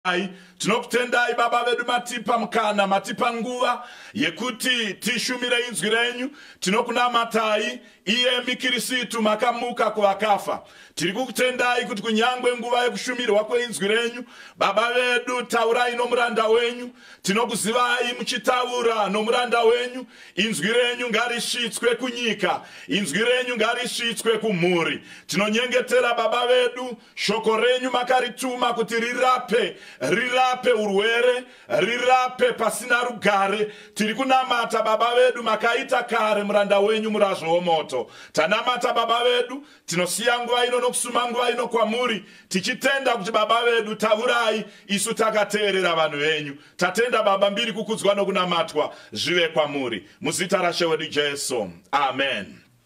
Tinokumbirayi, tinokutendai Baba vedu matipa mukana, matipa nguva yekuti tishumire inzwi renyu. Tinokunamatai iyemi Kirisitu makamuka kuvakafa. Tiri kukutendai kuti kunyangwe nguva yekushumirwa kweinzwi renyu, Baba vedu taurai nomuranda wenyu. Tinokuzivai muchitaura nomuranda wenyu. Inzwi renyu ngarisvitswe kunyika. Inzwi renyu ngarisvitswe kumhuri. Tinonyengetera Baba vedu Shoko renyu makarituma kuti rirape, rirape urwere, rirape pasina rugare. Tiri kunamata Baba vedu, makaita kare muranda wenyu murazvo womoto. Tanamata Baba vedu, tinosiya nguva ino nokusuma nguva ino kwamuri, tichitenda kuti Baba vedu tavurai, isu takateerera vanhu venyu. Tatenda Baba mbiri kukudzwa nokunamatwa zvive kwamuri. Muzita rashe wedu Jesu. Amen.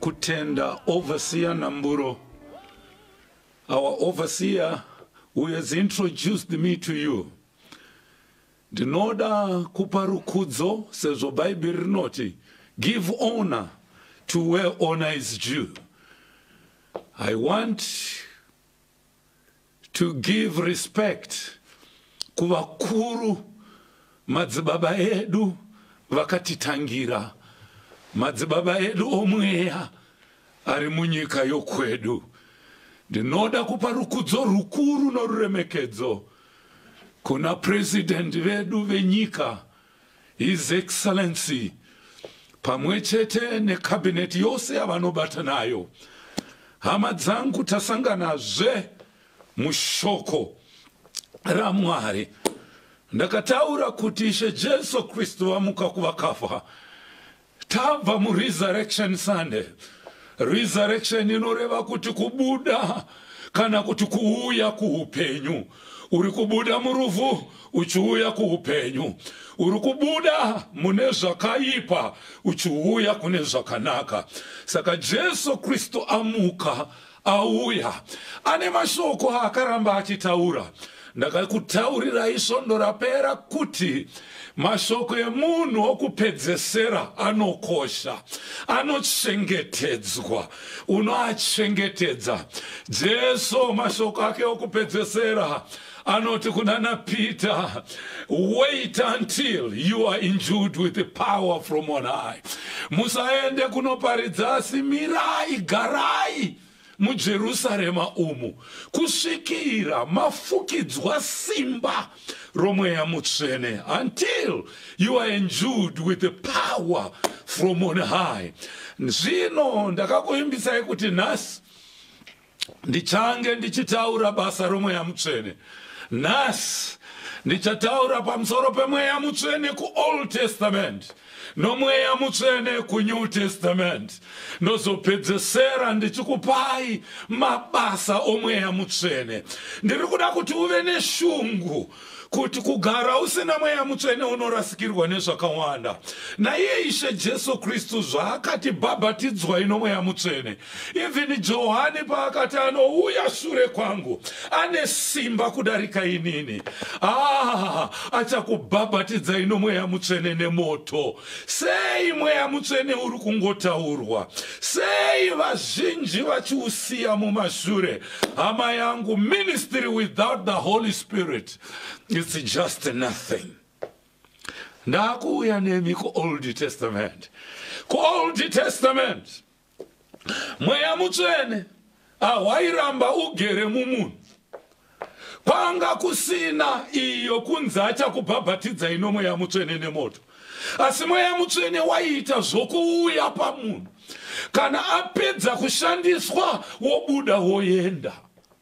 kutenda overseer Namburo. Our overseer who has introduced me to you. Ndinoda kupa rukudzo sezvo Bhaibheri rinoti give honor to where honor is due. I want to give respect kuvakuru madzibaba edu vakatitangira madzibaba edu omweya ari munyika yokwedu ndinoda kupa rukudzo rukuru noruremekedzo kuna president vedu venyika His Excellency pamwechete neCabinet yose yavanobata nayo. Hama dzangu tasangana zve mushoko raMwari. Ndakataura kuti Ishe Jesu Kristu vamuka kuvakafa. Tabva muResurrection Sunday. Resurrection inoreva kuti kubuda kana kuti kuuya kuupenyu uri kubuda murufu uchiuya kuupenyu uri kubuda mune zvakaipa uchiuya kune zvakanaka saka jesu kristu amuka Auya ane mashoko aakaramba achitaura. Ndakakutaurirai svondo rapera kuti mashoko emunhu okupedzesera anokosha, anochengetedzwa, unoachengetedza. Jesu mashoko ake okupedzesera Anoti kuna naPeter, wait until you are endued with the power from on high. Musaende kunoparidza asi mirai, garai muJerusarema umu kusvikira mafukidzwa simba romweya mutsvene until you are endued with the power from on high. Zvino ndakakuimbisai kuti nhasi ndichange ndichitaura basa romweya mutsvene nhasi ndichataura pamusoro pemweya mutsvene kuold testament nomweya mutsvene kunew testament ndozopedzesera ndichikupai mabasa omweya mutsvene ndiri kuda kuti uve neshungu kuti kugara usina mweya mutsvene unorasikirwa nezvakawanda naiye ishe jesu kristu zvaakati bhabhatidzwai nomweya mutsvene even johani paakati anouya shure kwangu ane simba kudarika inini ah, achakubhabhatidzai nomweya mutsvene nemoto Sei mweya mutsvene uri kungotaurwa? Sei vazhinji vachiusiya mumashure? Hama yangu, ministry without the Holy Spirit it's just nothing. Ndakuuya nemi kuOld Testament, kuOld Testament. mweya mutsvene ahwairamba ugere mumunhu kwanga kusina iyo kunzi achakubhabhatidza ino mweya mutsvene nemoto asi mweya mutsvene waiita zvokuuya pamunhu kana apedza kushandiswa wobuda woenda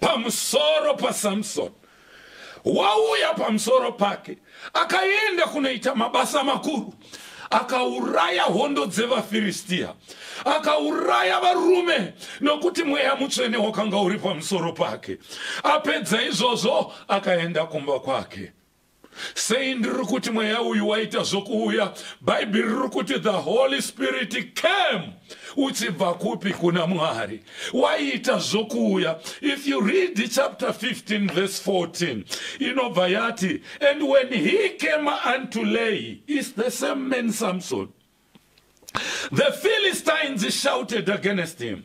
pamusoro paSamsoni. Wauya pamusoro pake, akaenda kunoita mabasa makuru akauraya hondo dzevafiristia akauraya varume nokuti mweya mutsvene wakanga uri pamusoro pake apedza izvozvo akaenda kumba kwake Sei ndiri kuti mweya uyu waita zvokuuya? Bhaibheri riri kuti the Holy Spirit came. Uchibva kupi kuna Mwari? Waita zvokuuya. If you read chapter 15 verse 14, inobva yati, and when he came unto Lehi, is the same man Samson. The Philistines shouted against him.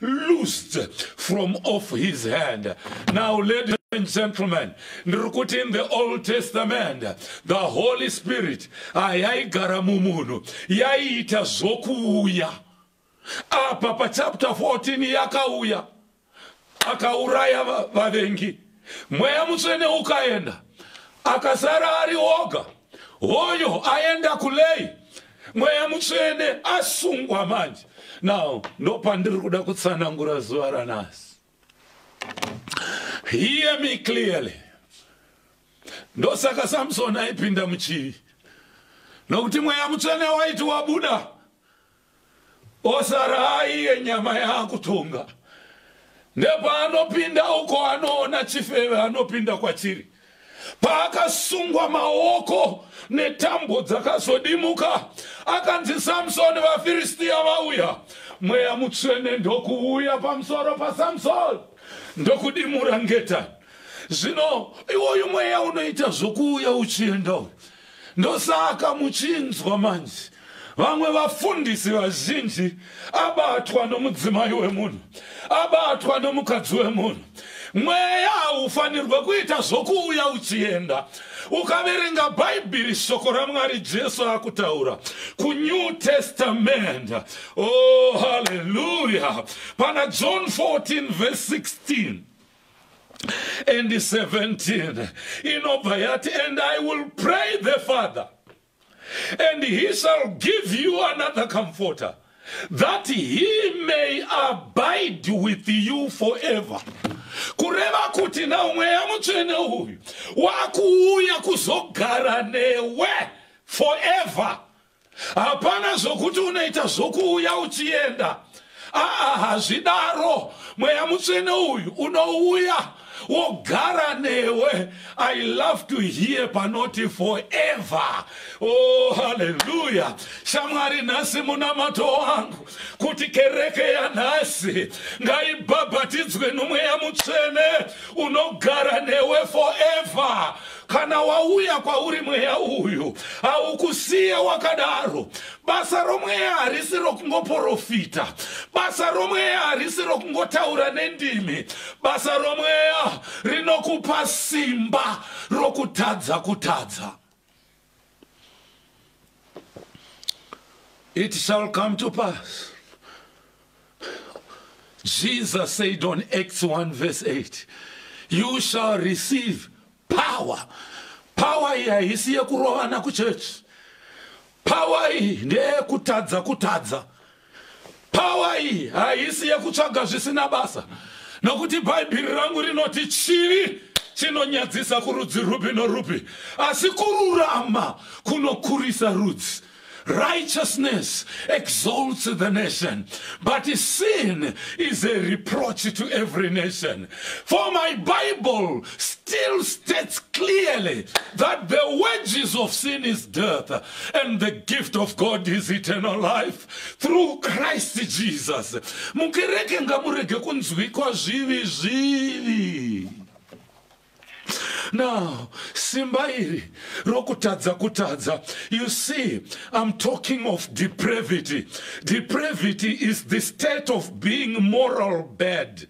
loosed from off his hand. Now, ladies and gentlemen, ndirikuti in the Old Testament, the Holy Spirit ayaigara ah, mumunhu yaiita zvokuuya. Apa pachapter 14 yakauya akauraya vavengi. Mweya mutsvene ukaenda akasara ari oga. hoyo aenda kulei mweya mutsvene asungwa manje now ndopandiri kuda kutsanangura zuva ranasi hear me clearly ndosaka samsoni aipinda muchivi nokuti mweya mutsvene waiti wabuda osara aiye nyama yaakutonga nepaanopinda uko anoona chifeve anopinda kwachiri paakasungwa maoko netambo dzakazodimuka akanzi samsoni vafiristiya vauya mweya mutsvene ndokuuya pamusoro pasamsoni ndokudimura ngeta zvino iwoyu mweya unoita zvokuuya uchienda uyu Ndosaka muchinzwa manje vamwe vafundisi vazhinji abatwa nomudzimai wemunhu, abatwa nomukadzi wemunhu. Mweya haufanirwe kuita zvokuuya uchienda. Ukaverenga Bhaibheri, shoko raMwari, Jesu akutaura kuNew Testament. Oh, haleluya! Pana John 14 verse 16 and 17 inobva yati and i will pray the father and he shall give you another comforter that he may abide with you forever kureva kuti now mweya mutsvene uyu wakuuya kuzogara newe forever hapana zvokuti unoita zvokuuya uchienda aa hazvidaro mweya mutsvene uyu unouya wogara newe i love to hear panoti forever oh haleluya shamwari nhasi munamato wangu kuti kereke yanhasi ngaibhabhatidzwe nomweya mutsvene unogara newe forever Kana wauya kwauri mweya uyu, haukusiye wakadaro. Basa romweya harisi rokungoporofita. Basa romweya harisi rokungotaura nendimi. Basa romweya rinokupa simba rokutadza kutadza. It shall come to pass. Jesus said on Acts 1 verse 8, You shall receive power. Power iyi haisi yekurovana kuchechi. Power iyi ndeyekutadza kutadza. Pawa iyi haisi yekutsvaga zvisina basa nokuti bhaibheri rangu rinoti chivi chinonyadzisa kurudzi rupi norupi asi kururama kunokurisa rudzi righteousness exalts the nation but sin is a reproach to every nation for my bible still states clearly that the wages of sin is death and the gift of God is eternal life through Christ Jesus. Mukereke ngamurege kunzwikwa zvivi zvivi. Now, simba iri rokutadza kutadza. You see, I'm talking of depravity. Depravity is the state of being moral bad.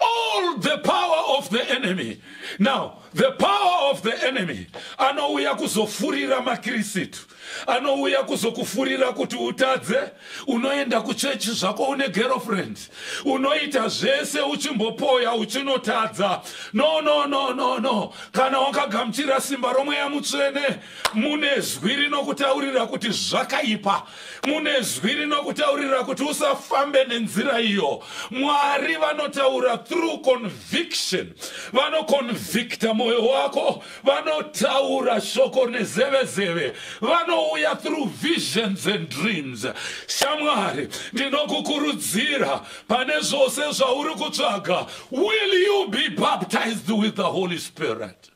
all the power of the enemy now the power of the enemy anouya kuzofurira makirisitu anouya kuzokufurira kuti utadze unoenda kuchechi zvako une girlfriend unoita zvese uchimbopoya uchinotadza no no no no no kana wakagamuchira simba romweya mutsvene mune zwi rinokutaurira kuti zvakaipa mune zwi rinokutaurira kuti usafambe nenzira iyo mwari vanotaura through conviction vanoconvicta mwoyo wako vanotaura shoko nezeve zeve vanouya through visions and dreams shamwari ndinokukurudzira pane zvose zvauri kutsvaga will you be baptized with the holy spirit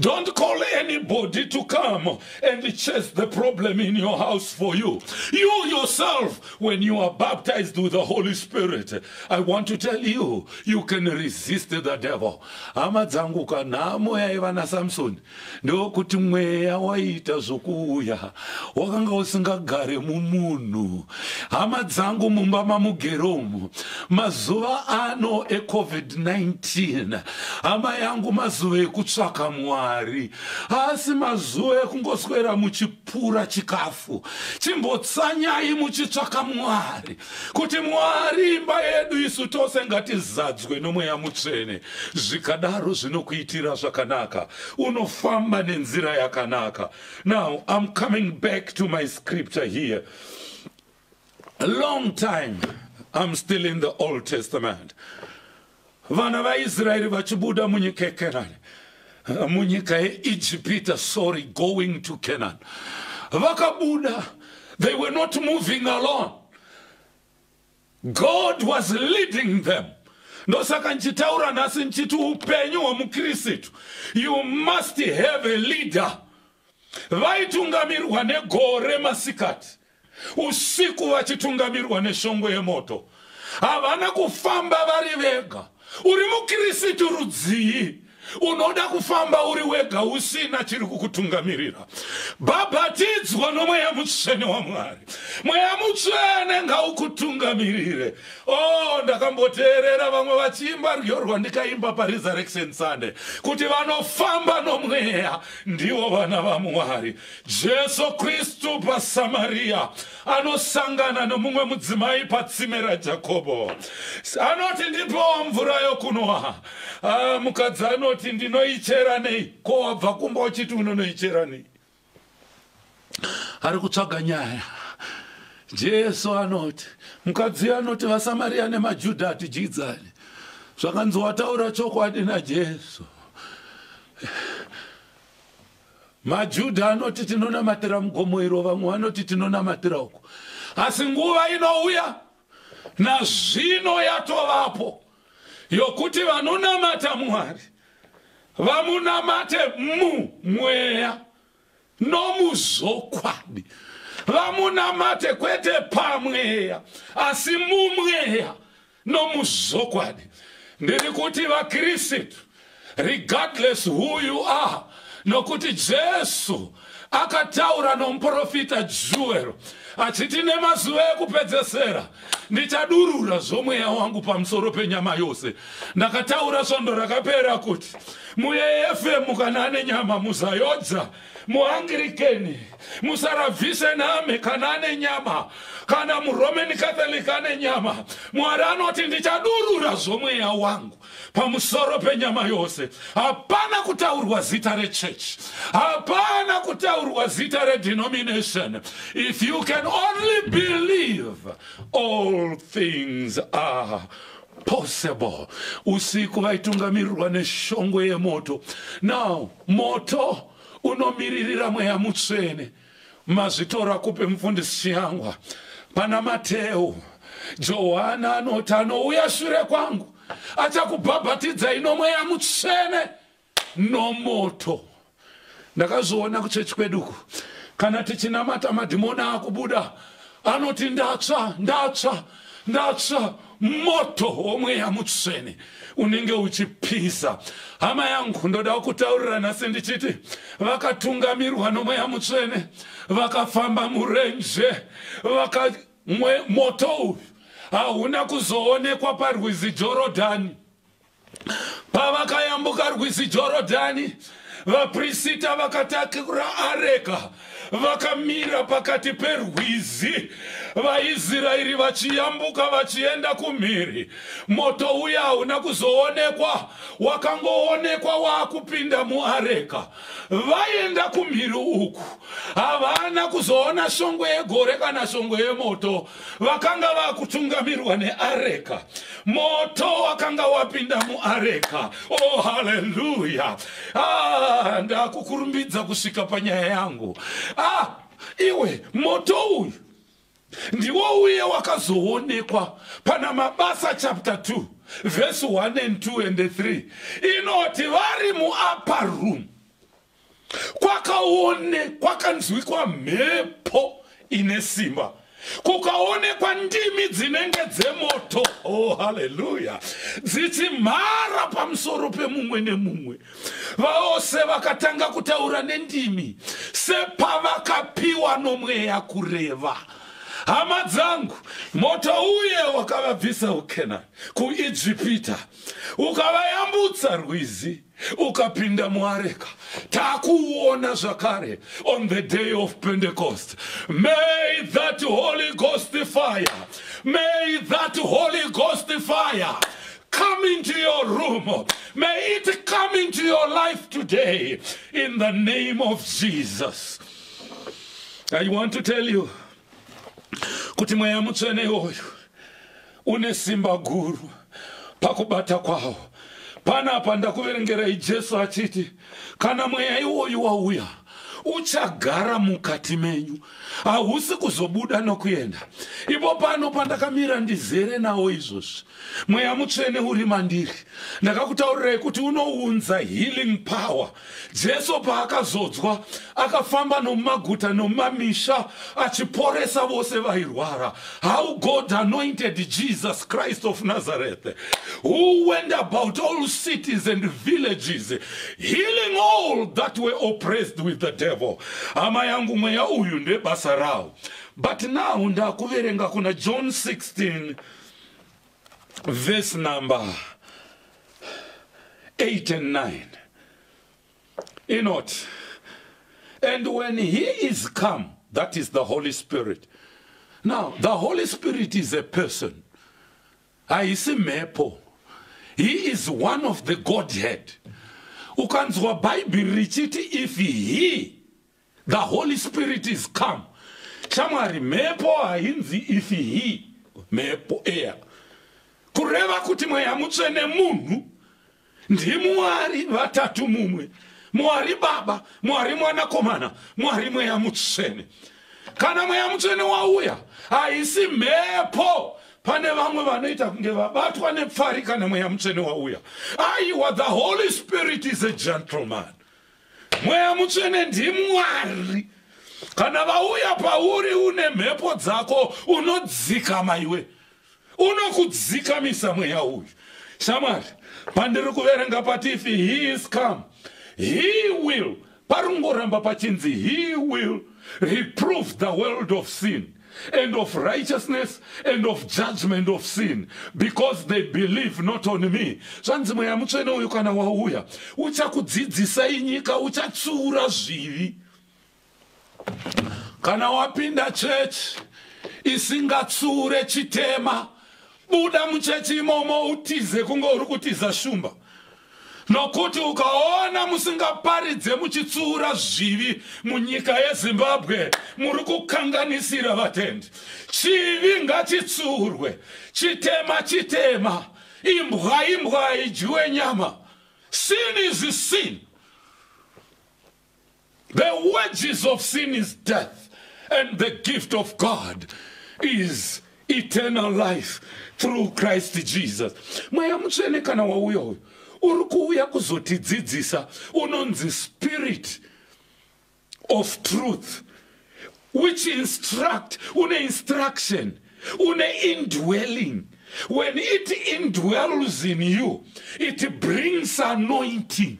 Don't call anybody to come and chase the problem in your house for you. You yourself, when you are baptized with the Holy Spirit, I want to tell you, you can resist the devil. Hama dzangu kanhamo yaiva naSamsoni ndokuti mweya waita zvokuuya wakanga usingagare mumunhu hama dzangu mumba mamugero umu mazuva ano ecovid-19 hama yangu mazuva ekutsvaka mwari haasi mazuva ekungoswera muchipura chikafu chimbotsanyai muchitsvaka mwari kuti mwari imba yedu isu tose ngatizadzwe nomweya mutsvene zvikadaro zvinokuitira zvakanaka unofamba nenzira yakanaka Now I'm coming back to my scripture here. A long time I'm still in the Old Testament. Vana vaIsraeri vachibuda munyika yeKenani, munyika yeIjipita, sorry, going to Canaan. Vakabuda, they were not moving alone. God was leading them. Ndosaka nchitaura nhasi nchiti upenyu hwemukirisitu you must have a leader. Vaitungamirwa negore masikati, usiku vachitungamirwa neshongwe yemoto. Havana kufamba vari vega. Uri mukirisitu rudzii? unoda kufamba uri wega usina chiri kukutungamirira bhabhatidzwa nomweya mutsvene wamwari mweya mutsvene ngaukutungamirire o oh, ndakamboteerera vamwe vachiimba rwiyo rwandikaimba paresurrection sunday kuti vanofamba nomweya ndivo vana vamwari jesu kristu pasamariya anosangana nomumwe mudzimai patsime rajakobo anoti ndipowo mvura yokunwa Ah, mukadzi anoti ndinoichera nei ko wabva kumba uchiti unonoichera nei ari kutsvaga nyaya jesu anoti mukadzi anoti vasamariya nemajudha hatidyidzani zvakanzi wataura chokwadi najesu majudha anoti tinonamatira mugomo iro vamwe vanoti tinonamatira uko asi nguva inouya nazvino yatovapo yokuti vanonamata Mwari vamunamate mumweya nomuzvokwadi, vamunamate kwete pamweya asi mumweya nomuzvokwadi. Ndiri kuti vaKristu regardless who you are nokuti jesu akataura nomuprofita juwero achiti nemazuva ekupedzesera ndichadurura zvomweya wangu pamusoro penyama yose ndakataura svondo rakapera kuti muefm kana ane nyama muzayodza muangirikeni musarabvise name kana ane nyama kana muroman catholic ane nyama mwari anoti ndichadurura zvomweya wangu pamusoro penyama yose hapana kutaurwa zita rechurch hapana kutaurwa zita redenomination if you can only believe all things are possible usiku vaitungamirirwa neshongwe yemoto now moto unomiririra mweya mutsvene Mazvitora kupi mufundisi Chiyangwa? Pana Mateu, Johana anoti anouya shure kwangu achakubhabhatidzai nomweya mutsvene nomoto. Ndakazviona kuchechi kweduku kana tichinamata madhimoni akubuda anoti ndatsva ndatsva ndatsva moto womweya mutsvene unenge uchipisa hama yangu ndoda kutaurira nhasi ndichiti vakatungamirwa nomweya mutsvene vakafamba murenje vaka moto uyu hauna kuzoonekwa parwizi jorodhani Pavakayambuka rwizi Jorodhani, vaprisita vakatakura areka vakamira pakati perwizi, vaIsraeri vachiyambuka vachienda kumhiri. Moto uya hauna kuzoonekwa, wakangoonekwa waakupinda muareka. Vaenda kumhiri uku, havana kuzoona shongwe yegore kana shongwe yemoto. vakanga vakutungamirwa neareka moto wakanga wapinda muareka oh haleluya ah, ndakukurumbidza kusvika panyaya yangu ah, iwe moto uyu ndiwo uye wakazoonekwa pana mabasa chapter 2 vhesi 1 and 2 and 3 inoti vari muupper room kwakaonekwa kanzwikwa mhepo ine simba kukaonekwa ndimi dzinenge dzemoto oh haleluya dzichimhara pamusoro pemumwe nemumwe vose vakatanga kutaura nendimi sepavakapiwa nomweya kureva hama dzangu moto uye wakavabvisa ukenani kuijipita ukavayambutsa rwizi ukapinda muareka takuona zvakare on the day of pentecost may that holy ghost fire may that holy ghost fire come into your room may it come into your life today in the name of jesus i want to tell you kuti mweya mutsvene iwoyo une simba guru pakubata kwawo panapa ndakuverengerai jesu achiti kana mweya iwoyu wauya uchagara mukati menyu hausi kuzobuda nokuenda ipo pano pandakamira ndizere nawo izvozvi mweya mutsvene uri mandiri ndakakutaurirai kuti unounza healing power Jesu paakazodzwa, akafamba nomumaguta nomumamisha achiporesa vose vairwara. How God anointed Jesus Christ of Nazareth, who went about all cities and villages, healing all that were oppressed with the devil. Hama yangu mweya uyu ndebasa rawo. But now ndakuverenga kuna John 16 verse number 8 and 9 inoti and when he is come that is the holy spirit now the holy spirit is a person haisi mhepo he is one of the godhead ukanzwa bhaibheri richiti if he the holy spirit is come shamwari mhepo hainzi if he mhepo air kureva kuti mweya mutsvene munhu ndimwari vatatu mumwe mwari baba mwari mwanakomana mwari mweya mutsvene kana mweya mutsvene wauya haisi mhepo pane vamwe vanoita kunge vabatwa nepfari kana mweya mutsvene wauya aiwa the holy spirit is a gentleman mweya mutsvene ndimwari kana vauya pauri une mhepo dzako unodzikama iwe unokudzikamisa mweya uyu shamwari pandiri kuverenga patifi he is come he will parungoramba pachinzi he will reprove the world of sin and of righteousness and of judgment of sin because they believe not on me zvanzi mweya mutsvene uyu kana wauya uchakudzidzisai nyika uchatsiura zvivi kana wapinda chechi isingatsiure chitema Buda muchechi imomo utize kunge uri kutiza shumba. Nokuti ukaona musingaparidze muchitsuura zvivi munyika yeZimbabwe muri kukanganisira vatendi. Chivi ngachitsuurwe. Chitema chitema. Imbwa imbwa idyiwe nyama. Sin is sin. The wages of sin is death and the gift of God is eternal life through Christ Jesus. Mweya mutsvene kana wauya uyu uri kuuya kuzotidzidzisa unonzi spirit of truth which instruct une instruction une indwelling when it indwells in you it brings anointing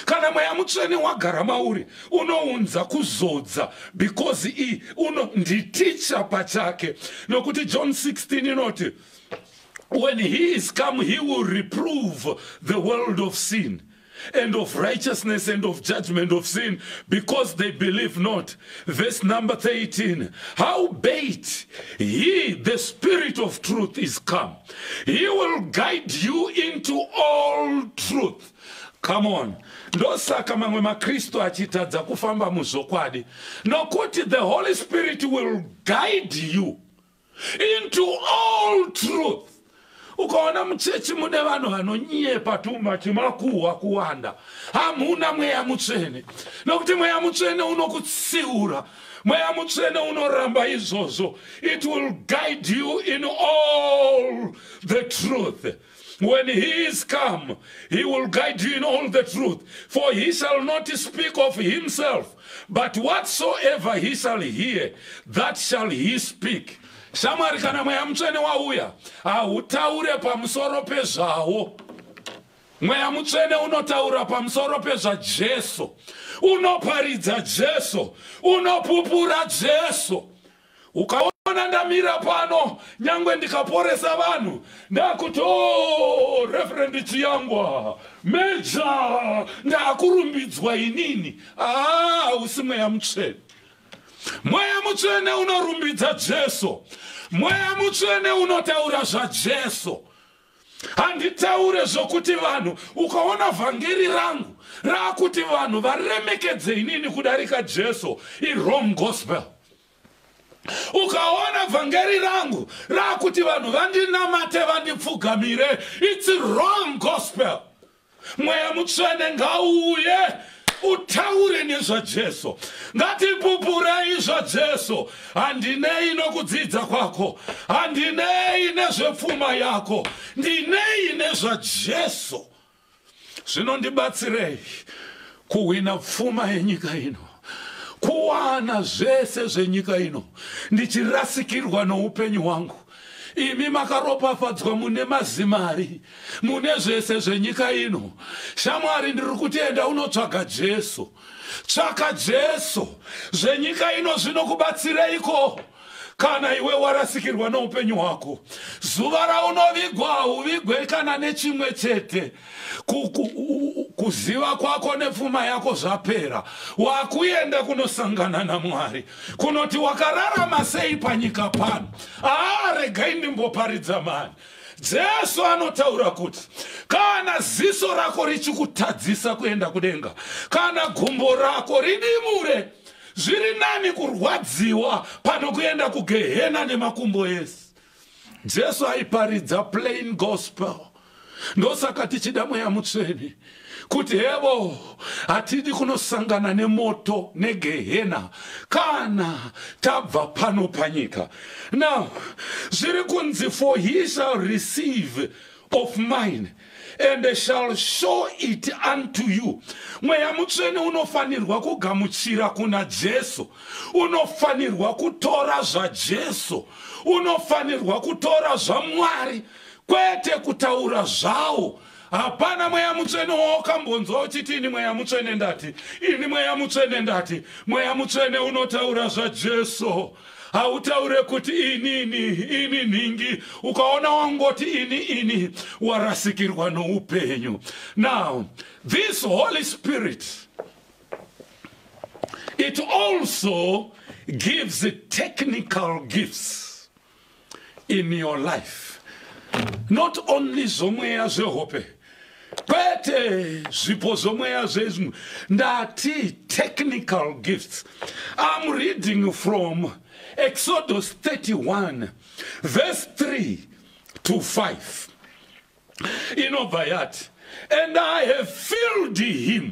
kana mweya mutsvene wagara mauri unounza kuzodza because i uno nditicha pachake nokuti john 16 inoti when he is come he will reprove the world of sin and of righteousness and of judgment of sin because they believe not. Verse number 13. How bait he, the spirit of truth, is come. He will guide you into all truth. Come on. Ndosaka mamwe maKristu achitadza kufamba muzvokwadi nokuti the Holy Spirit will guide you into all truth. Ukaona muchechi mune vanhu vanonyepa tuma chimakuhwa kuwanda hamuna mweya mutsvene nokuti mweya mutsvene unokutsiura mweya mutsvene unoramba izvozvo it will guide you in all the truth When he is come, he will guide you in all the truth. For he shall not speak of himself, but whatsoever he shall hear, that shall he speak. Shamwari kana mweya mutsvene wauya, hautaure pamusoro pezvawo. Mweya mutsvene unotaura pamusoro pezvaJesu. Unoparidza Jesu, unopupura Jesu. ukaona ndamira pano nyangwe ndikaporesa vanhu ndakuti o oh, referendi chiyangwa meja ndakurumbidzwa inini aa ah, usi mweya mutsvene mweya mutsvene unorumbidza jesu mweya mutsvene unotaura zvajesu handitaure zvokuti vanhu ukaona vhangeri rangu raakuti vanhu varemekedze inini kudarika jesu irom gospel ukaona vhangeri rangu raakuti vanhu vandinamate vandipfugamire its wrong gospel mweya mutsvene ngauye utaure nezvajesu ngatipupurei zvajesu handinei nokudzidza kwako handinei nezvepfuma yako ndinei nezvajesu zvinondibatsirei kuhwina pfuma yenyika ino kuwana zvese zvenyika ino ndichirasikirwa noupenyu hwangu Imi makaropafadzwa mune mazimari, mune zvese zvenyika ino. Shamwari, ndiri kuti enda unotsvaga Jesu. Tsvaka Jesu. Zvenyika ino zvinokubatsireiko kana iwe warasikirwa noupenyu hwako? Zuva raunovigwa hauvigwe kana nechimwe chete. kuziva kwako nepfuma yako zvapera wakuenda kunosangana namwari kunoti wakararama sei panyika pano aa regai ndimboparidza mani jesu anotaura kuti kana ziso rako richikutadzisa kuenda kudenga kana gumbo rako ridimure zviri nani kurwadziwa pano kuenda kugehena nemakumbo ese jesu aiparidza plain gospel ndosaka tichida mweya mutsvene kuti hevo hatidi kunosangana nemoto negehena kana tabva pano panyika now zviri kunzi for he shall receive of mine and shall show it unto you mweya mutsvene unofanirwa kugamuchira kuna jesu unofanirwa kutora zvajesu unofanirwa kutora zvamwari kwete kutaura zvawo hapana mweya mutsvene waokambonzwa uchiti ini mweya mutsvene ndati ini mweya mutsvene ndati mweya mutsvene unotaura zvajesu hautaure kuti ini ini ini nhingi ukaona wangoti ini ini warasikirwa noupenyu now this holy spirit it also gives technical gifts in your life not only zvomweya zvehope kwete zvipo zvomweya zvezvimwe ndati technical gifts im reading from exodus 31 verse 3 to 5 inobva yati and i have filled him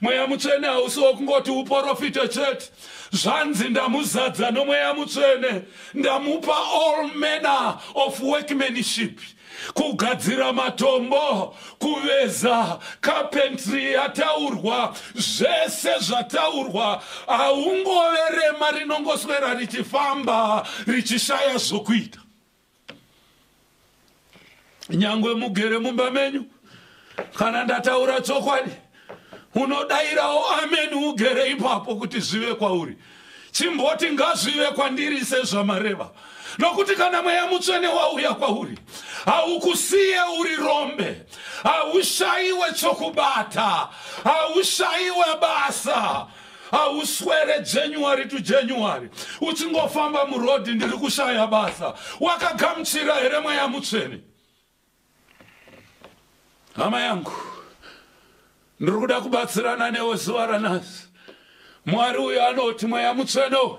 mweya mutsvene hausi wokungoti uporofite chete zvanzi ndamuzadza nomweya mutsvene ndamupa all manner of workmanship kugadzira matombo kuveza kapentry yataurwa zvese zvataurwa haungove rema rinongoswera richifamba richishaya zvokuita nyangwe mugere mumba menyu kana ndataura chokwadi unodairawo ameni ugere ipapo kuti zvive kwauri chimboti ngazvive kwandiri sezvamareva nokuti kana mweya mutsvene wauya kwauri haukusiye uri rombe haushaiwe chokubata haushaiwe basa hauswere january to january uchingofamba murodhi ndiri kushaya basa wakagamuchira here mweya mutsvene hama yangu ndiri kuda kubatsirana newe zuva ranhasi mwari uyo anoti mweya mutsvene uyu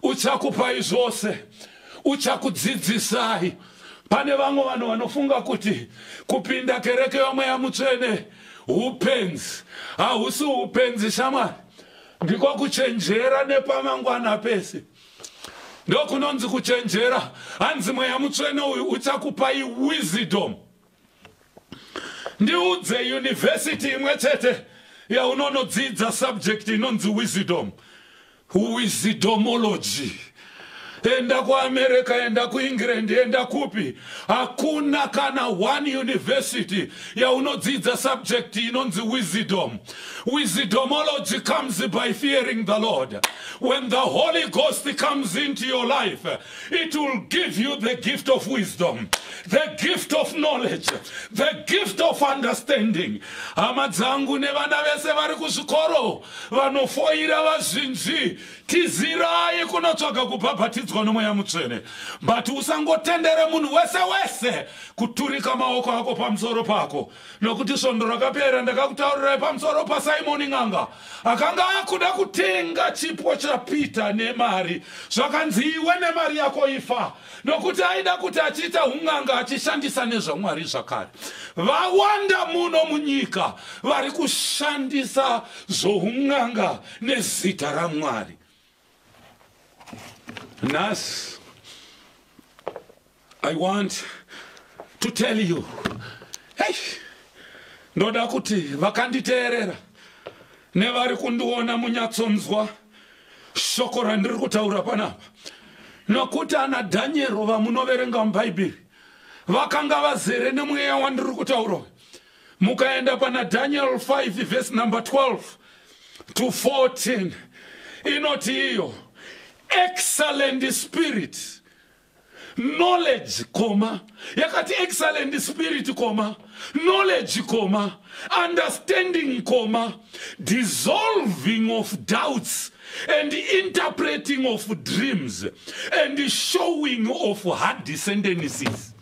uchakupai zvose uchakudzidzisai pane vamwe vanhu vanofunga kuti kupinda kereke yomweya mutsvene upenzi hausi upenzi shamwari ndiko kuchenjera nepamangwana pese ndokunonzi kuchenjera hanzi mweya mutsvene uyu uchakupai wisdom ndiudze yunivhesiti imwe chete yaunonodzidza subject inonzi wisdom wisdomology enda kuamerica enda kuengland enda kupi hakuna kana one university yaunodzidza subject inonzi wisdom wisdomology comes by fearing the lord when the holy ghost comes into your life It will give you the gift of wisdom, the gift of knowledge, the gift of understanding. Hama dzangu nevana vese vari kuzvikoro vanofoira vazhinji, tizirai kunotsvaga kubhabhatidzwa nomweya mutsvene. But usangotendere munhu wese wese kuturika maoko ako pamusoro pako. nokuti svondo rakapera ndakakutaurirai pamusoro pasimoni n'anga akanga akuda kutenga chipo chapeter nemari zvakanzi iwe nemari yako ifa nokuti aida kuti achiita un'anga achishandisa nezvamwari zvakare vawanda muno munyika vari kushandisa zvoun'anga nezita ramwari Nas, I want to tell you. Hey, ndoda kuti vakanditeerera nevari kundiona munyatsonzwa shoko randiri kutaura panapa nokuti ana dhanyero vamunoverenga mubhaibheri vakanga vazere nemweya wandiri kutaura uyu mukaenda pana daniel 5 vhesi number 12 to 14 inoti iyo excellent spirit knowledge koma yakati excellent spirit koma knowledge koma understanding koma dissolving of doubts and interpreting of dreams and showing of hard descendencies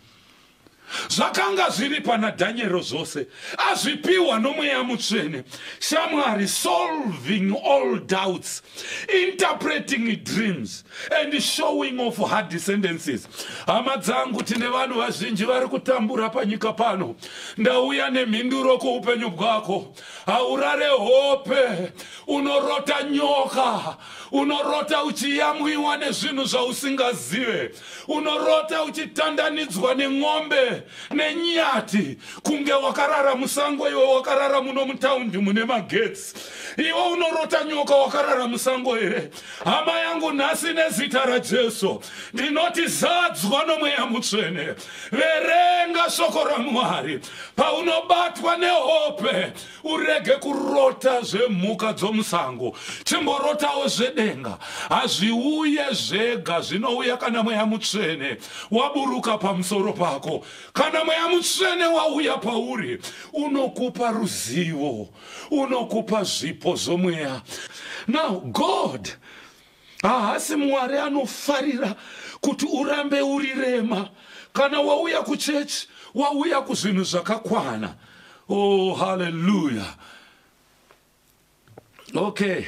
zvakanga zviri pana dhanyero zvose azvipiwa nomweya mutsvene shamwari solving all doubts interpreting dreams and showing of her descendances hama dzangu tine vanhu vazhinji vari kutambura panyika pano ndauya nemhinduro kuupenyu bwako haurare hope unorota nyoka unorota uchiyamwiwa nezvinhu zvausingazive unorota uchitandanidzwa nen'ombe nenyati kunge wakarara musango iwe wakarara muno mutaundi mune magetsi iwe unorota nyoka wakarara musango here hama yangu nhasi nezita rajesu ndinoti zadzwa nomweya mutsvene verenga shoko ramwari paunobatwa nehope urege kurota zvemhuka dzomusango chimborotawo zvedenga hazviuye zvega zvinouya kana mweya mutsvene waburuka pamusoro pako kana mweya mutsvene wauya pauri unokupa ruzivo unokupa zvipo zvomweya now god Haasi Mwari anofarira kuti urambe uri rema. Kana wauya kuchechi, wauya kuzvinhu zvakakwana. Oh, hallelujah. Okay.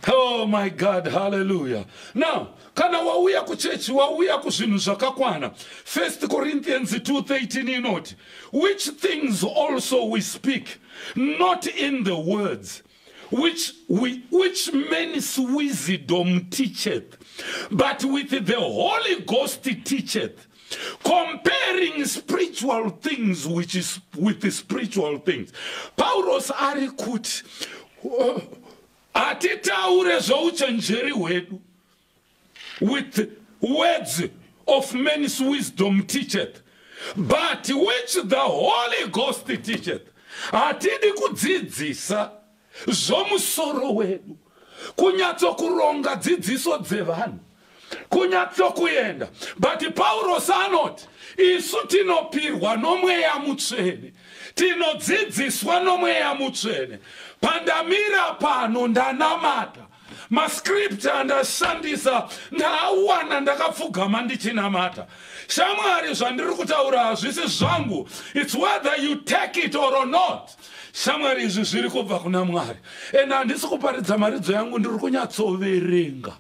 Oh my God, hallelujah. Now, kana wauya kuchechi wauya kuzvinhu zvakakwana 1 corinthians 213 inoti which things also we speak not in the words which, which means wisdom teacheth, but with the Holy Ghost teacheth, comparing spiritual things which is with the spiritual things. Paulos ari kuti oh, hatitaure zvouchenjeri hwedu with words of man's wisdom teacheth but which the holy ghost teacheth hatidi kudzidzisa zvomusoro wedu kunyatsokuronga dzidziso dzevanhu kunyatsokuenda but paurosi anoti isu tinopirwa nomweya mutsvene tinodzidziswa nomweya mutsvene pandamira pano ndanamata mascript andashandisa ndaawana ndakapfugama ndichinamata shamwari zvandiri kutaura hazvisi zvangu its whether you take it or not shamwari izvi zviri kubva kuna mwari and handisi kuparidza maridzo yangu ndiri kunyatsoverenga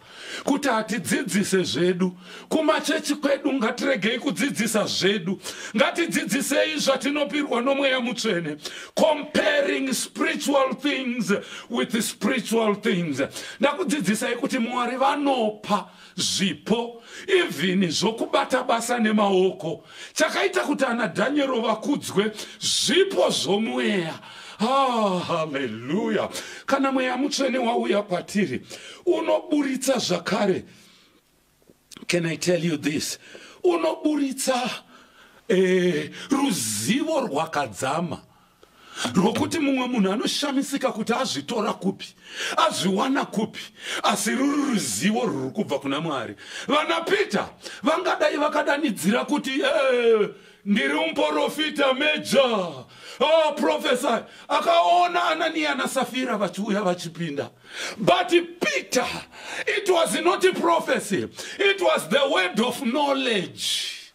kuti hatidzidzise zvedu Kumachechi kwedu ngatiregei kudzidzisa zvedu. Ngatidzidzisei zvatinopirwa nomweya mutsvene. Comparing spiritual things with spiritual things. Ndakudzidzisai kuti Mwari vanopa zvipo even zvokubata basa nemaoko. Chakaita kuti ana Daniel vakudzwe zvipo zvomweya. Ah, haleluya. Kana mweya mutsvene wauya kwatiri unoburitsa zvakare can i tell you this unoburitsa eh, ruzivo rwakadzama rwokuti mumwe munhu anoshamisika kuti azvitora kupi azviwana kupi asi ruri ruzivo rwuri kubva kuna mwari vana peter vangadai vakadanidzira kuti eh, ndiri muporofita meja oh, profesa akaona ananiya nasafira vachiuya vachipinda But Peter, it was not a prophecy, it was the word of knowledge.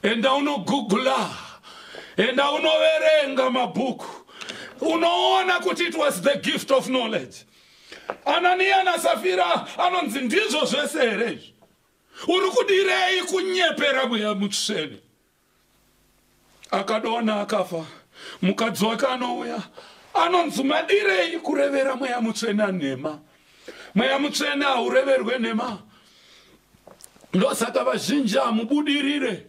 Enda unogugula, enda unoverenga mabhuku, unoona kuti it was the gift of knowledge. Anania na Safira anonzi ndizvo zvese here izvi? Uri kudirei kunyepera mweya mutsvene? akadonha akafa mukadzi wake anouya anonzi madirei kurevera mweya mutsvene anhema mweya mutsvene haureverwe nhema ndosaka vazhinji hamubudirire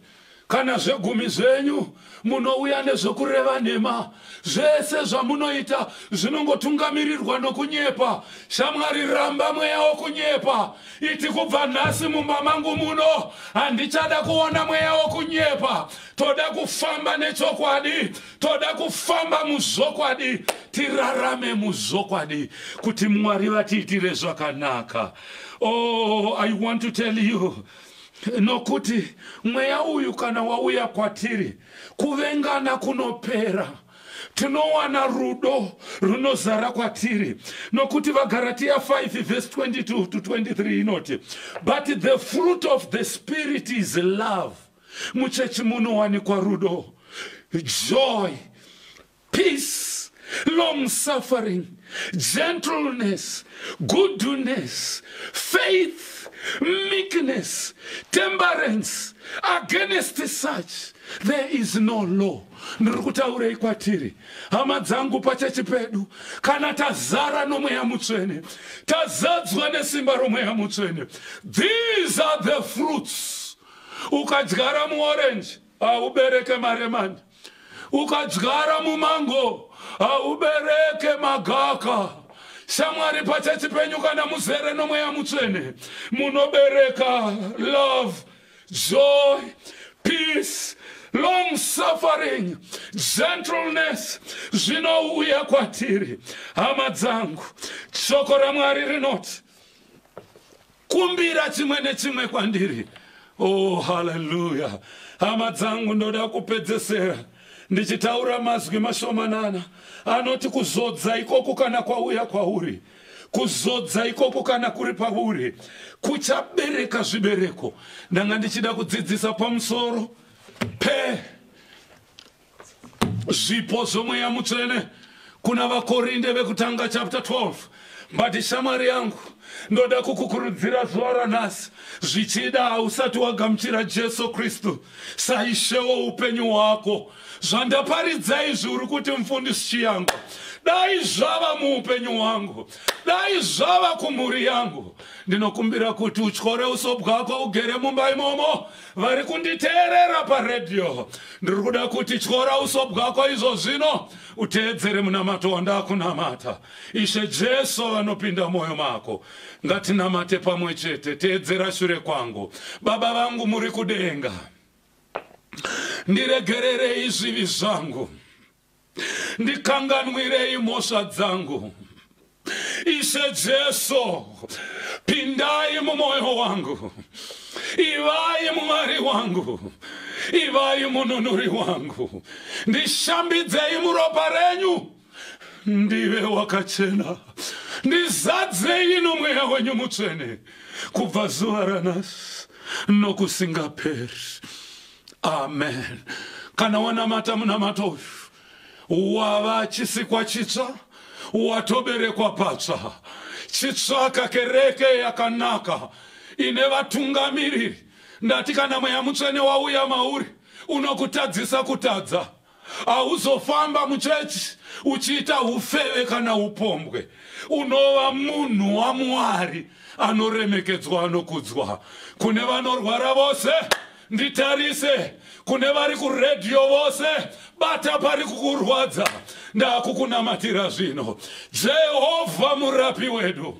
kana zvegumi zvenyu munouya nezvekureva nhema zvese zvamunoita zvinongotungamirirwa nokunyepa shamwari ramba mweya wokunyepa Iti kubva nhasi mumba mangu muno handichada kuona mweya wokunyepa. Toda kufamba nechokwadi, toda kufamba muzvokwadi, tirarame muzvokwadi kuti Mwari vatiitire zvakanaka. Oh, I want to tell you nokuti mweya uyu kana wauya kwatiri kuvengana kunopera. tinowana rudo runozara kwatiri nokuti vagaratiya 5 vhesi 22 to 23 inoti but the fruit of the spirit is love muchechi munowanikwa rudo joy peace long suffering gentleness goodness faith meekness temperance against such there is no law Ndiri kutaurei kwatiri, hama dzangu, pachechi pedu, kana tazara nomweya mutsvene, tazadzwa nesimba romweya mutsvene, these are the fruits. Ukadyara muorenji haubereke maremani, ukadyara mumango haubereke magaka. Shamwari, pachechi penyu, kana muzere nomweya mutsvene, munobereka love joy peace long suffering gentleness zvinouya kwatiri hama dzangu shoko ramwari rinoti kumbira chimwe nechimwe kwandiri oh haleluya hama dzangu ndoda kupedzesera ndichitaura mazwi mashomanana anoti kuzodza ikoku kana kwauya kwauri kwa kuzodza ikoko kana kuri pauri kuchabereka zvibereko ndanga ndichida kudzidzisa pamusoro pe zvipo zvomweya mutsvene kuna vakorinde vekutanga chapter 12 but shamwari yangu ndoda kukukurudzira zuva ranhasi zvichida hausati wagamuchira jesu kristu saishewo upenyu hwako zvandaparidza izvi uri kuti mfundisi chiyangwa dai zvava muupenyu hwangu dai zvava kumhuri yangu ndinokumbira kuti utyore uso bwako ugere mumba imomo vari kunditeerera paredhiyo ndiri kuda kuti tyora uso bwako izvo zvino uteedzere munamato wandakunamata ishe jesu vanopinda mwoyo mako ngatinamate pamwe chete teedzera shure kwangu baba vangu muri kudenga ndiregererei zvivi zvangu ndikanganwirei mhosva dzangu ishe jesu pindai mumwoyo wangu ivai mwari wangu ivai mununuri wangu ndishambidzei muropa renyu ndive wakachena ndizadzei nomweya wenyu mutsvene kubva zuva ranasi nokusingaperi amen kana wanamata munamato uyu wava chisikwa chitsva watoberekwa patsva chitsvaka kereke yakanaka ine vatungamiriri ndati kana mweya mutsvene wauya mauri unokutadzisa kutadza Hauzofamba muchechi uchiita ufeve kana upombwe. Unova munhu waMwari anoremekedzwa anokudzwa. Kune vanorwara vose, nditarise. Kune vari kuredhiyo vose, bata pari kukurwadza. Ndakukunamatira zvino. Jehovha murapi wedu.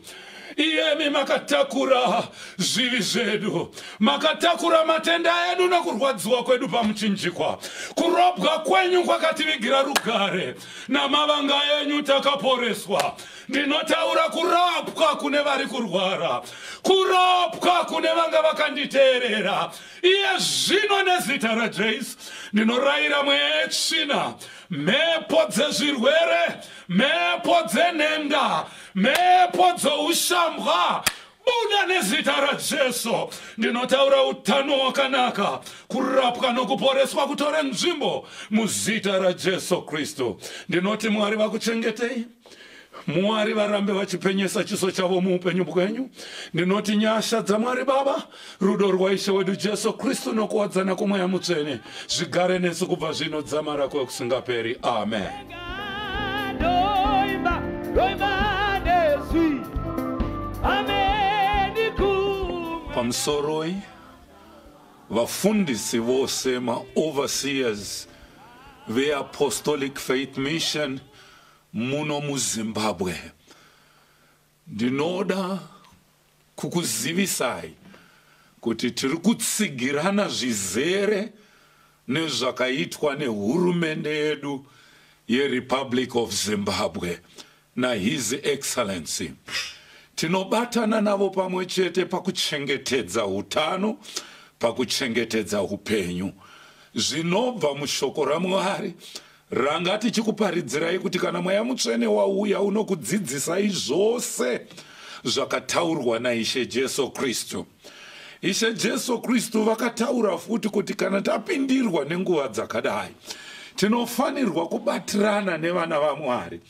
iyemi makatakura zvivi zvedu makatakura matenda edu nokurwadziwa kwedu pamuchinjikwa kurobwa kwenyu kwakativigira rugare namavanga enyu takaporeswa ndinotaura kurapwa kune vari kurwara kurapwa kune vanga vakanditeerera iye zvino nezita rajesu ndinorayira mwechina mhepo dzezvirwere mhepo dzenhenda Mhepo dzoushambwa buda nezita rajesu ndinotaura utano hwakanaka kurapwa nokuporeswa kutore nzvimbo muzita rajesu kristu ndinoti mwari vakuchengetei mwari varambe vachipenyesa chiso chavo muupenyu bwenyu ndinoti nyasha dzamwari baba Rudo rwaIshe wedu Jesu Kristu nokuwadzana kwomweya mutsvene zvigare nesu kubva zvino dzamara kwekusingaperi. Amen. Pamusoroi vafundisi vose maoverseers veApostolic Faith Mission muno muZimbabwe Ndinoda kukuzivisai kuti tiri kutsigirana zvizere nezvakaitwa nehurumende yedu yeRepublic of Zimbabwe naHis Excellency. Tinobatana navo pamwe chete pakuchengetedza utano, pakuchengetedza upenyu. Zvinobva mushoko raMwari Ranga tichikuparidzirai kuti kana Mweya Mutsvene wauya unokudzidzisai zvose zvakataurwa naIshe Jesu Kristu. Ishe Jesu Kristu vakataura futi kuti kana tapindirwa nenguva dzakadai tinofanirwa kubatirana nevana vaMwari.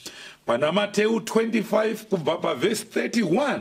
Pana Mateu 25 kubva pavhesi 31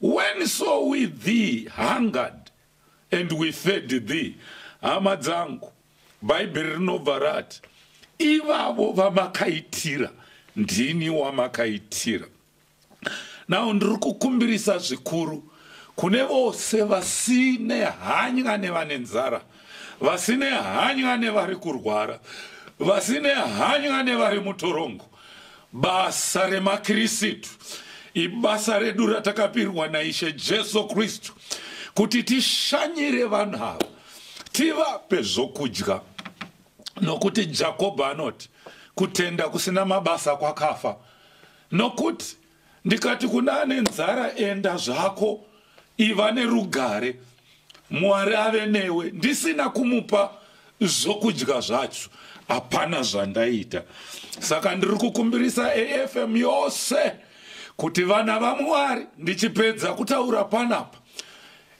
When so we thee hungered and we fed thee hama dzangu bhaibheri rinobva rati ivavo vamakaitira ndini wamakaitira now ndiri kukumbirisa zvikuru kune vose vasine hanya nevane nzara vasine hanya nevari kurwara vasine hanya nevari mutorongo Basa remaKirisitu ibasa redu ratakapirwa naIshe Jesu Kristu kuti tishanyire vanhu ava tivape zvokudya nokuti Jakobho anoti kutenda kusina mabasa kwakafa nokuti ndikati kuna ane nzara enda zvako iva nerugare mwari ave newe ndisina kumupa zvokudya zvacho hapana zvandaita saka ndiri kukumbirisa afm yose kuti vana vamwari ndichipedza kutaura panapa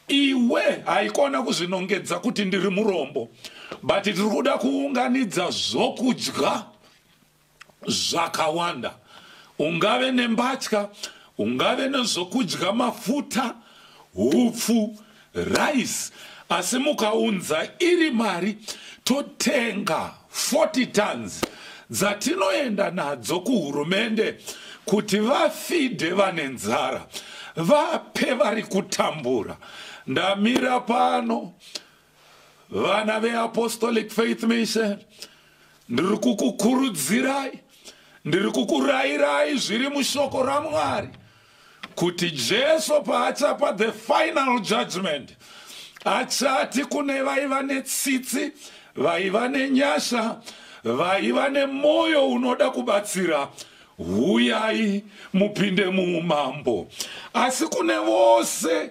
iwe haikona kuzvinongedza kuti ndiri murombo but tiri kuda kuunganidza zvokudya zvakawanda ungave nembatya ungave nezvokudya mafuta hupfu rice asi mukaunza iri mari totenga 40 tons dzatinoenda nadzo kuhurumende kuti vafidhe vane nzara vape vari kutambura ndamira pano vana veapostolic faith mission ndiri kukukurudzirai ndiri kukurayirai zviri mushoko ramwari kuti jesu paachapa the final judgment achati kune vaiva netsitsi vaiva nenyasha vaiva nemwoyo unoda kubatsira huyai mupinde muumambo asi kune vose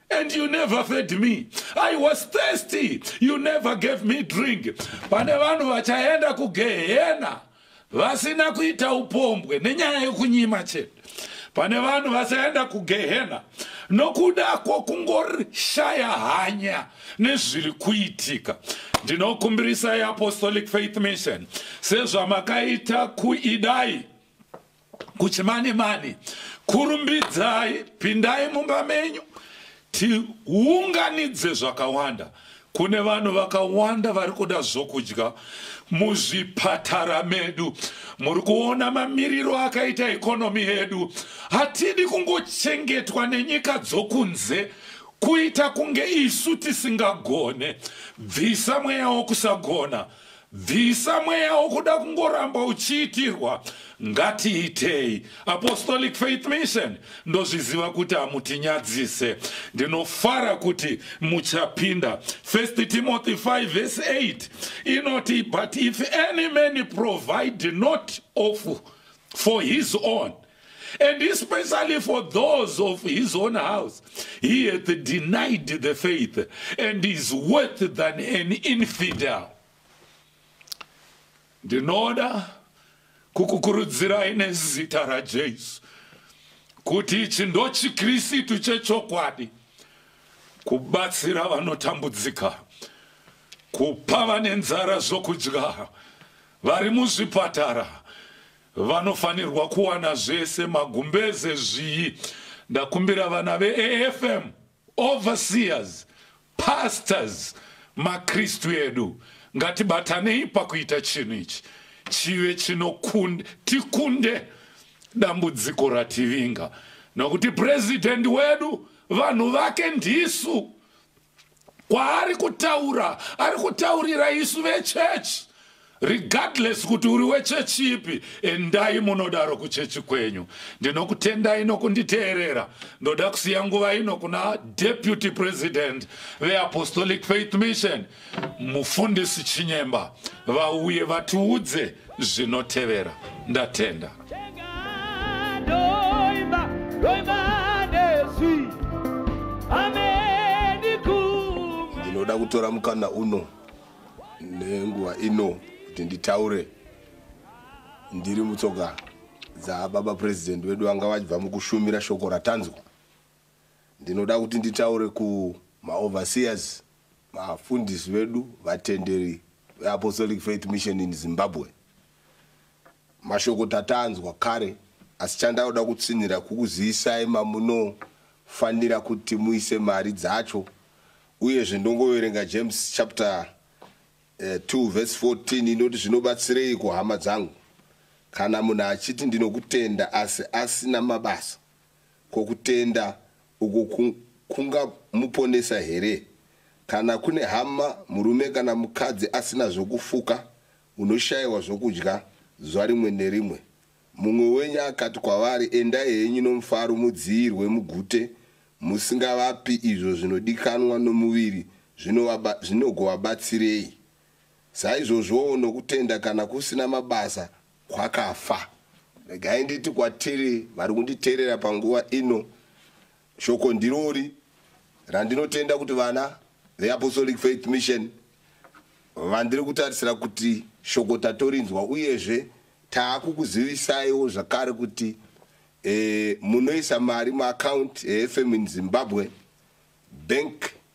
and you never fed me i was thirsty you never gave me drink pane vanhu vachaenda kugehena vasina kuita upombwe nenyaya yekunyima chete pane vanhu vasaenda kugehena nokuda kwokungorishaya hanya nezviri kuitika ndinokumbirisa yeapostolic faith mission sezvamakaita kuidai kuchimane mane kurumbidzai pindai mumba menyu tiunganidze zvakawanda kune vanhu vakawanda vari kuda zvokudya muzvipatara medu muri kuona mamiriro akaita ikonomi yedu hatidi kungochengetwa nenyika dzokunze kuita kunge isu tisingagone bvisa mweya wokusagona Bvisa mweya wokuda kungoramba uchiitirwa. Ngatiitei. Apostolic Faith Mission, ndozviziva kuti hamutinyadzise. Ndinofara kuti muchapinda. 1 Timothy 5 verse 8 inoti, But if any man provide not of for his own, And especially for those of his own house, he hath denied the faith and is worse than an infidel. Ndinoda kukukurudzirai nezita raJesu kuti ichi ndochiKristu chechokwadi kubatsira vanotambudzika kupa vane nzara zvokudya vari muzvipatara Vanofanirwa kuwana zvese magumbeze zviyi ndakumbira vana veAFM overseers pastors makristu edu ngatibatanei pakuita chinhu ichi chive chinokunde tikunde dambudziko rativinga nokuti president wedu vanhu vake ndisu kwaari kutaura ari kutaurira isu vechechi regardless kuti uri wechechi ipi endai munodaro kuchechi kwenyu ndinokutendai nokunditeerera ndoda kusiya nguva ino kuna deputy president veapostolic faith mission mufundisi chinyemba vauye vatiudze zvinotevera ndatenda ndinoda kutora mukana uno nenguva ino kuti nditaure ndiri mutsoka dzababa purezidenti vedu vanga vachibva mukushumira shoko ratanzwa ndinoda kuti nditaure kumaoverseers vafundisi vedu vatenderi veapostolic faith mission in zimbabwe mashoko tatanzwa kare asi chandauda kutsinhira kukuziyisai mamunofanira kuti muise mari dzacho uyezve ndongoverenga james chapter 2 eh, verse 14 inoti zvinobatsirei kuhama dzangu kana munhu achiti ndinokutenda asi asina mabasa Ko kutenda uku kungamuponesa here? Kana kune hama, murume kana mukadzi asina zvokufuka, unoshaiwa zvokudya zuva rimwe nerimwe. Mumwe wenyu akati kwavari, Endai henyu nomufaro mudziyirwe mugute, musingavapi izvo zvinodikanwa nomuviri zvinogovabatsirei. Saizvozvowo nokutenda, kana kusina mabasa kwakafa regai nditi kwatiri vari kunditeerera panguva ino shoko ndirori randinotenda kuti vana veapostolic faith mission vandiri kutarisira kuti shoko tatorinzwa uyezve taakukuzivisaiwo zvakare kuti e, munoisa mari muaccount efm in zimbabwe bank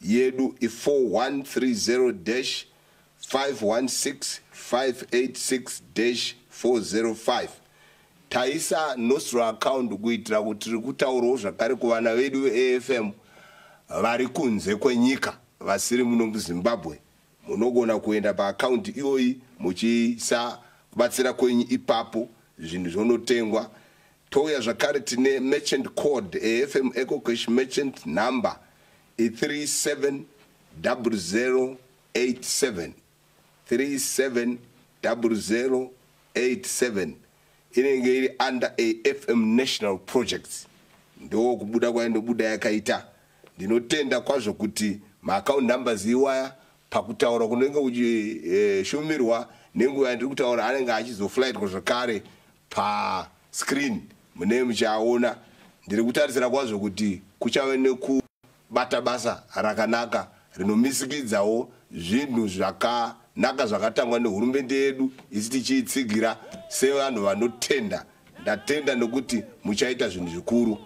Yedu i 4130-516-586-405. Taisa Nostro account kuitira kuti tiri kutaurawo zvakare kuvana vedu veAFM vari kunze kwenyika vasiri muno muZimbabwe. Munogona kuenda paaccount iyoyi muchiisa kubatsira kwenyu ipapo zvinhu zvonotengwa Touya zvakare tine merchant code eFM EcoCash merchant number i 370087 370087 inenge iri under AFM National Projects ndo kubuda kwainobuda yakaita ndinotenda kwazvo kuti maaccount numbers iwaya pakutaura kunenge kuchishumirwa eh, nenguva yandiri kutaura anenge achizoflightwa zvakare Pa screen munee muchiaona. Ndiri kutarisira kwazvo kuti kuchave nekubata basa rakanaka rinomisikidzawo zvinhu zvakanaka zvakatangwa nehurumende yedu isi tichiitsigira sevanhu vanotenda. Ndatenda nekuti muchaita zvinhu zvikuru.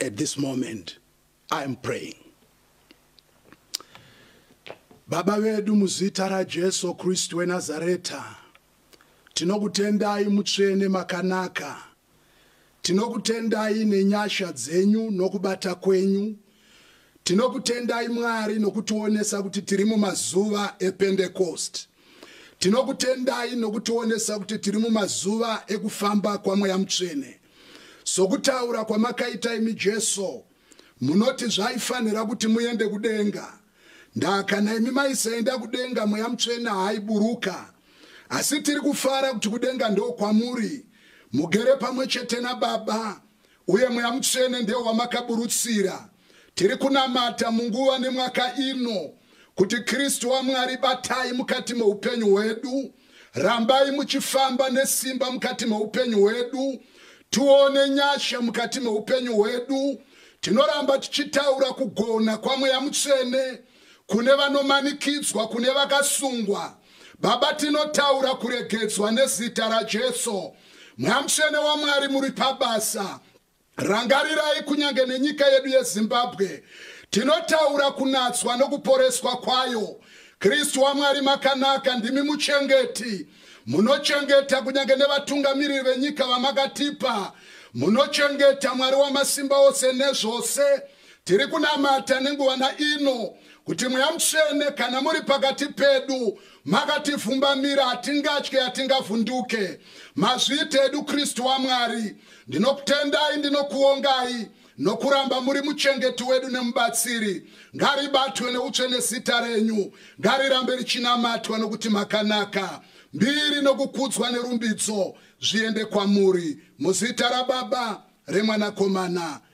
At this moment I am praying. Baba vedu muzita raJesu Kristu weNazareta, tinokutendai mutsvene makanaka. Tinokutendai nenyasha dzenyu nokubata kwenyu. Tinokutendai Mwari nokutionesa kuti tiri mumazuva ePentecost. Tinokutendai nokutionesa kuti tiri mumazuva ekufamba kwaMweya Mutsvene. Sokutaura kwamakaita imi Jesu, munoti zvaifanira kuti muende kudenga. Ndaa kana imi maisaenda kudenga mweya mutsvene haaiburuka. Asi tiri kufara kuti kudenga ndokwamuri, mugere pamwe chete naBaba, uye mweya mutsvene ndewo wamakaburutsira. Tiri kunamata munguva nemwaka ino kuti Kristu waMwari batai mukati meupenyu hwedu, rambai muchifamba nesimba mukati meupenyu hwedu, tione nyasha mukati meupenyu hwedu. Tinoramba tichitaura kugona kwaMweya Mutsvene kune vanomanikidzwa, kune vakasungwa. Baba, tinotaura kuregedzwa nezita raJesu. Mweya Mutsvene waMwari muri pabasa. Rangarirai kunyange nenyika yedu yeZimbabwe tinotaura kunatswa nokuporeswa kwayo. Kristu waMwari makanaka ndimi muchengeti munochengeta kunyange nevatungamiriri venyika vamakatipa munochengeta mwari wamasimba ose nezvose tiri kunamata nenguva naino kuti mweya mutsvene kana muri pakati pedu makatifumbamira hatingatye hatingavhunduke mazviita edu kristu wamwari ndinokutendai ndinokuongai nokuramba muri muchengeti wedu nemubatsiri ngaribatwe neutsvene zita renyu ngarirambe richinamatwa nokuti makanaka mbiri nokukudzwa nerumbidzo zviende kwamuri muzita rababa remwanakomana